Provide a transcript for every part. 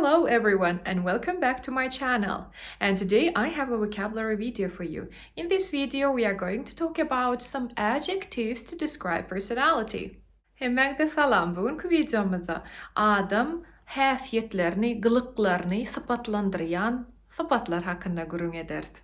Hello everyone and welcome back to my channel and today I have a vocabulary video for you. In this video we are going to talk about some adjectives to describe personality. Hemmäňde salam. Bu günki wideomyzda adam häsiýetlerini, gylyklaryny sypatlandyrýan sypatlar hakynda gürrüň ederis.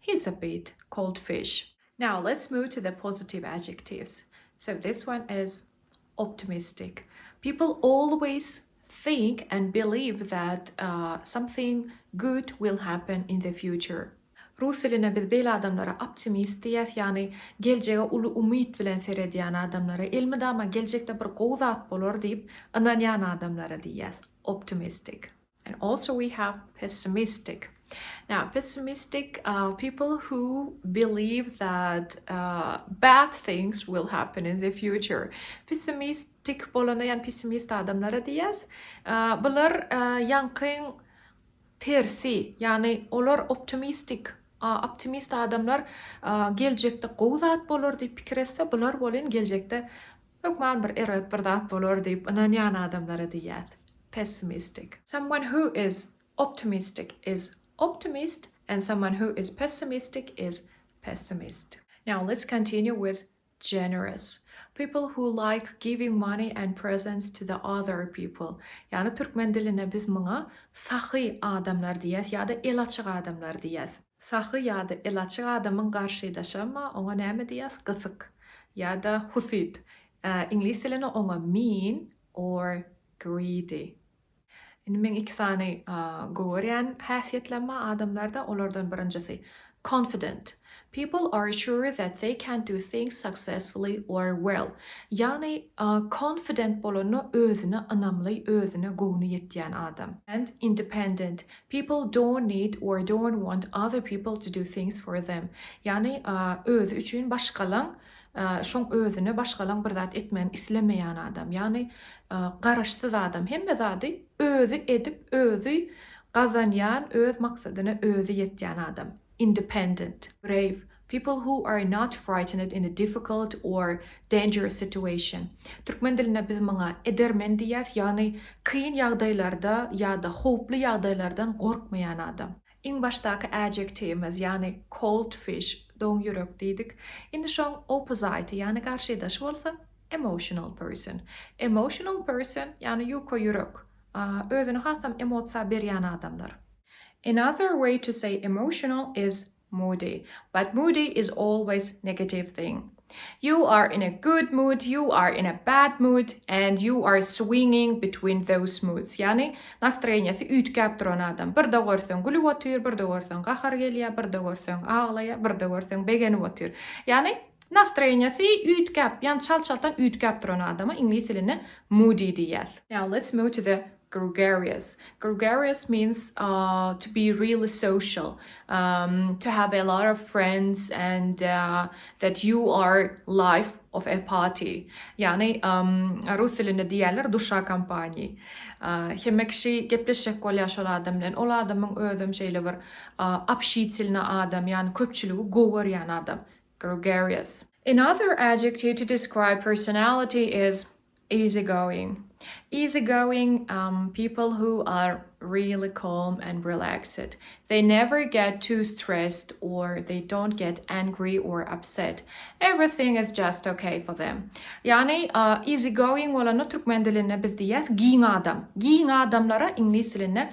He's a bit, cold fish. Now let's move to the positive adjectives. So this one is optimistic. People always think and believe that something good will happen in the future. Rus diline biz beýle adamlara optimist diýýäs, ýagny geljege uly umyt bilen seredýän adamlara, elmydama geljekde bir gowy zat bolar diýip ynanýan adamlara diýýäs, optimistic. And also we have pessimistic. Now pessimistic are people who believe that uh, bad things will happen in the future. Pessimistic bolana yani pessimist adamlara diyas. Uh, bular uh, yankyn tersi yani olar optimistic optimist adamlar geljekde gowy zat bolar diýip pikir etse, bular bolin geljekde Hökman bir erbet bir zat bolar diýip ynanýan adamlara diýýär, pessimistik. Someone who is optimistic is optimist and someone who is pessimistic is pessimist. Now let's continue with generous. People who like giving money and presents to the other people. Ýagny türkmen dilinde biz muňa sahy adamlar diýýäs ýa-da el açyk adamlar diýýäs. Sahy ýa-da el açyk adamyň garşydaşama oňa näme diýýäs, gysyk ýa-da husyt, iňlis dilinde oňa mean or greedy. Indi meň iki sany gowy görýän häsiýetlerim bar adamlarda, olardan birinjisi, confident. People are sure that they can do things successfully or well. Ýagny confident bolanda özüne ynamly, özüne göwni ýetýän adam. And independent. People don't need or don't want other people to do things for them. Ýagny, özi üçin başgalaň, şoň özüne başgalaň bir zat etmegini islemeýän adam. Ýagny, garaşsyz adam. Hemme zady özi edip, özi gazanýan, öz maksadyna özi ýetýän adam. Independent. Brave. People who are not frightened in a difficult or dangerous situation. Türkmen dilinde biz muňa edermen diýýäs, ýagny kyn ýagdaýlarda ýa-da howply ýagdaýlardan gorkmaýan adam. Iň başdaky adjektiwimiz, ýagny cold fish, doň ýürek diýdik. Indi şoň oppozyty, ýagny garşydaşy bolsa emotional person. Emotional person, ýagny ýuka ýürek, özüni hasam emotsiýa berýän adamlar. Another way to say emotional is Moody, but moody is always negative thing. You are in a good mood, you are in a bad mood, and you are swinging between those moods. Ýagny, nastroýeniýesi üýtgäp duran adam. Birde görseň gülüp otyr, birde görseň gahary gelýär, birde görseň aglaýar, birde görseň begenip otyr. Ýagny, nastroýeniýesi üýtgäp, ýagny çal-çaltdan üýtgäp duran adama iňlis dilinde moody diýýäs. Now let's move to the Gregarious. Gregarious means to be really social, to have a lot of friends and that you are life of a party. Ýagny rus dilinde diýýärler duşa kompaniýi. Hemme kişi gepleşjek bolýar şol adam bilen. Ol adamyň özem şeýle bir obşitelny adam, ýagny köpçüligi gowy görýän adam. Gregarious. Another adjective to describe personality is Easygoing, Easygoing um people who are really calm and relaxed. They never get too stressed or they don't get angry or upset. Everything is just ok for them. Ýagny easygoing bolanda türkmen dilinde biz diýýäs giň adam. Giň adamlara iňlis dilinde